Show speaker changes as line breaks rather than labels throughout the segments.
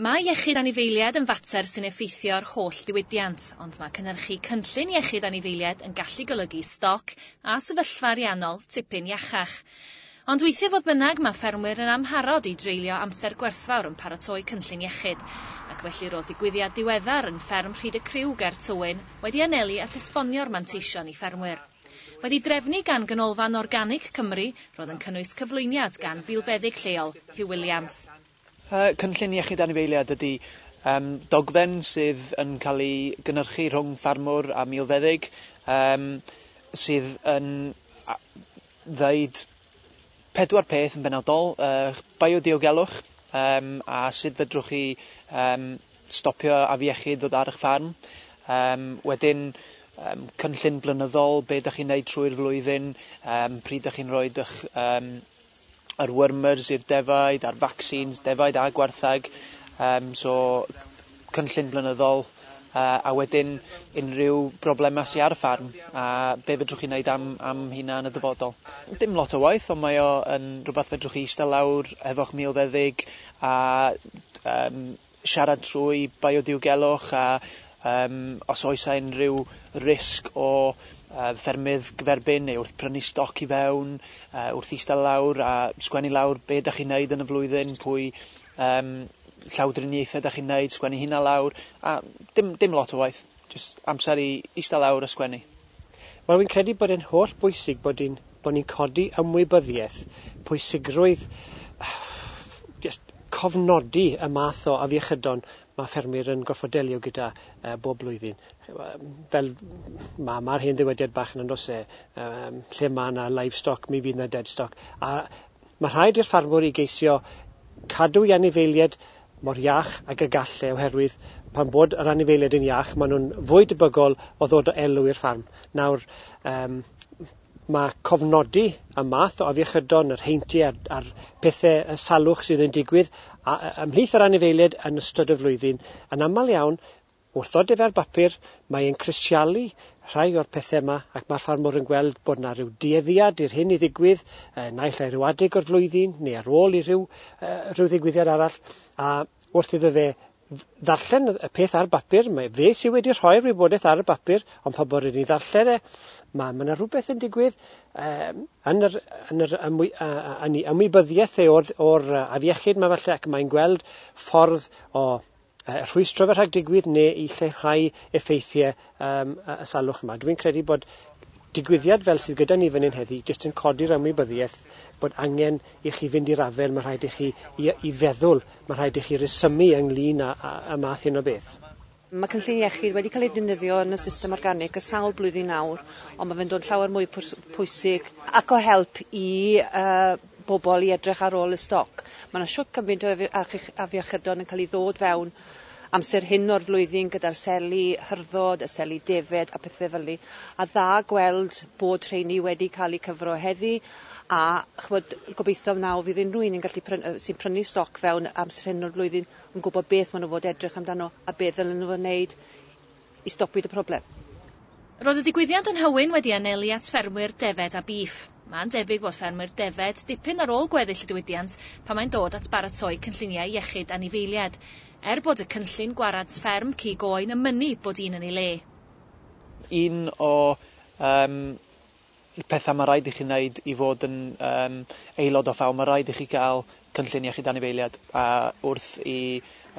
Mae iechyd anifeiliaid yn fater sy'n effeithio ar holl ddiwydiant, ond mae cynhyrchu cynllun iechyd anifeiliaid yn gallu golygu stoc a sefyllfa ariannol tipyn iachach. Ond weithiau fodd bynnag, mae ffermwyr yn amharod i dreulio amser gwerthfawr yn paratoi cynllun iechyd, ac felly roedd digwyddiad diweddar yn fferm Rhyd y Criw ger Tywyn wedi anelu at esbonio'r manteision i ffermwyr. Wedi drefnu gan Ganolfan Organig Cymru, roedd yn cynnwys cyflwyniad gan filfeddyg lleol, Huw Williams. Y cynllun
iechyd anifeiliaid ydy um, dogfen sydd yn cael ei gynnyrchu rhwng ffarmwr a milfeddyg um, sydd yn ddeud pedwar peth yn benodol, uh, biodiogelwch um, a sut fedrwch chi um, stopio afiechyd ddod ar eich ffarm. Um, wedyn, um, cynllun blynyddol, be ydych chi'n neud trwy'r flwyddyn, um, pryd ydych chi'n rhoi eich um, yr wyrmers i'r defaid a'r vaccines, defaid a gwartheg, um, so cynllun blynyddol, uh, a wedyn unrhyw broblemau sy'n ar y ffarm a be fedrwch chi wneud am, am hynna yn y dyfodol. Dim lot o waith, ond mae o yn rhywbeth fedrwch chi eistedd lawr hefo'ch milfeddyg a um, Siarad trwy biodiogelwch a um, os oes a unrhyw risg o uh, ffermydd gyferbyn neu wrth prynu stoc i fewn, uh, wrth eistedd lawr a sgwennu lawr be da chi'n neud yn y flwyddyn, pwy um, llawdriniaethau da chi'n neud, sgwennu hynna lawr, a dim, dim lot o waith, just amser i eistedd lawr a sgwennu. Wel, fi'n credu
bod e'n holl bwysig bod ni'n bod ni'n codi ymwybyddiaeth, pwysigrwydd just cofnodi y math o afiechydon mae ffermwyr yn gorfod delio gyda uh, bob blwyddyn. Fel mae ma hen ddywediad bach yn andos e, um, lle mae yna livestock, mi fydd yna deadstock. A Mae rhaid i'r ffarmwr i geisio cadw i anifeilied mor iach ag y gall e oherwydd pan bod yr anifeilied yn iach maen nhw'n fwy debygol o ddod o elw i'r ffarm. Nawr, um, mae cofnodi y math o afiechydon, yr heinti a'r, a'r pethau y salwch sydd yn digwydd ymhlith yr anifeilied yn ystod y flwyddyn yn aml iawn Wrth ddod ef ar bapur, mae e'n crisialu rhai o'r pethe yma ac mae'r ffarmwr yn gweld bod 'na ryw dueddiad i'r hyn i ddigwydd, yy naill ai ryw adeg o'r flwyddyn neu ar ôl i rhyw yy rhyw ddigwyddiad arall, a wrth iddo fe ddarllen y peth ar bapur, mae fe sydd wedi rhoi'r wybodaeth ar y bapur, ond pa bod wedi ddarllen e, mae ma' 'na rhywbeth yn digwydd um, yn yr, yn yr ymwy, uh, yn ei ymwybyddiaeth e o'r, or afiechyd mae falle ac mae'n gweld ffordd o rhwystro fe rhag digwydd neu i lleihau effeithiau um, y salwch yma. Dwi'n credu bod digwyddiad fel sydd gyda ni fan hyn heddi jyst yn codi'r ymwybyddiaeth bod angen i chi fynd i'r afael, mae rhaid i chi i, i feddwl, mae rhaid i chi resymu ynglyn â, â, â math hyn o beth. Mae cynllun
iechyd wedi cael ei defnyddio yn y system organic y sawl blwyddyn nawr, ond mae fe'n dod llawer mwy pwysig ac o help i uh, bobl i edrych ar ôl y stoc. Mae yna shwt cymaint o afiechydon yn cael ei ddod fewn amser hyn o'r flwyddyn gyda'r seli hyrddod, y seli defaid a pethau fel ni. A dda gweld bod rheini wedi cael eu cyfro heddi a ch'mod gobeithio wnaw fydd unrhyw un yn gallu pryn- yy sy'n prynu stoc fewn amser hyn o'r flwyddyn yn gwybod beth maen nhw fod edrych amdano a be ddylen nhw wneud i stopwyd y problem. Roedd y
digwyddiad yn Nhywyn wedi anelu at ffermwyr defed a bîff. Mae'n debyg fod ffermwyr defed dipyn ar ôl gweddill y diwydiant pan mae'n dod at baratoi cynlluniau iechyd anifeiliaid, er bod y cynllun gwarad fferm cig oen yn mynnu bod un yn ei le. Un
o um, pethau mae rhaid i chi wneud i fod yn um, aelod o ffaw, mae rhaid i chi gael cynllun iechyd anifeiliad a wrth i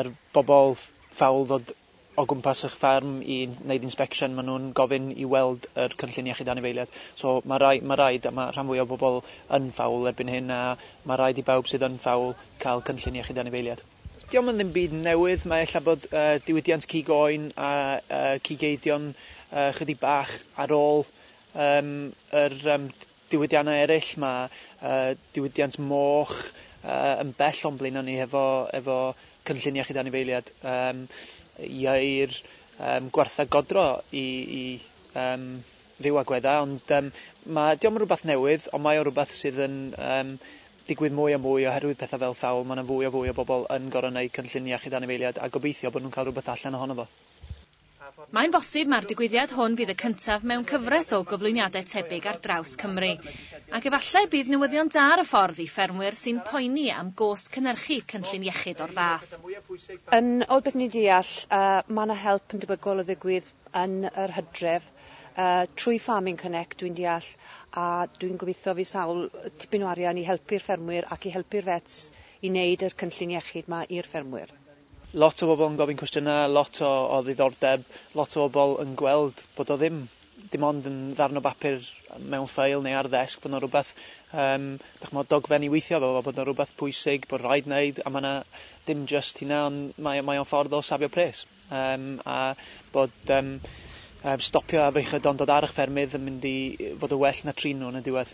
yr bobl ffawl ddod o gwmpas eich fferm i wneud inspection, maen nhw'n gofyn i weld yr cynllun iechyd anifeiliaid. So mae rhaid, mae rhaid, a mae rhan fwyaf o bobl yn fawl erbyn hyn, a mae rhaid i bawb sydd yn fawl cael cynllun iechyd anifeiliaid. Dio'm yn ddim byd newydd, mae ella bod yy diwydiant cig oen a yy cig eidion yy chydig bach ar ôl yym yr yym diwydiannau eraill, mae diwydiant moch yn bell o'n blaenau ni hefo efo cynllun iechyd anifeiliad yym ieu'r yym gwartheg godro i i yym ryw agweddau ond yym ma' dio'm yn rwbath newydd ond mae o rwbath sydd yn yym digwydd mwy a mwy oherwydd petha fel thawl ma' 'na fwy a fwy o bobl yn gor'o' neud cynllun iechyd anifeiliad a gobeithio bo' nhw'n ca'l rwbeth allan ohono fo. Mae'n
bosib mai'r digwyddiad hwn fydd y cyntaf mewn cyfres o gyflwyniadau tebyg ar draws Cymru. Ac efallai y bydd newyddion da ar y ffordd i ffermwyr sy'n poeni am gost cynhyrchu cynllun iechyd o'r fath. Yn ol
beth ni'n deall, mae yna help yn debygol o ddigwydd yn yr hydref trwy Farming Connect, dwi'n deall, a dwi'n gobeithio fydd sawl tipyn o arian i helpu'r ffermwyr ac i helpu'r vets i wneud y cynllun iechyd 'ma i'r ffermwyr. Lot o bobl
yn gofyn cwestiynau, lot o o ddiddordeb, lot o bobl yn gweld bod o ddim dim ond yn ddarn o bapur mewn ffeil neu ar ddesg, bod 'na rywbeth yym dach ch'mod dogfen i weithio efo fo, bod 'na rywbeth pwysig bod rhaid wneud a ma' 'na dim jyst hynna ond mae o mae o'n ffordd o safio pres yym a bod yym yym stopio â feichiaduon dod ar 'ych ffermydd yn mynd i fod yn well na trin nhw yn y diwedd.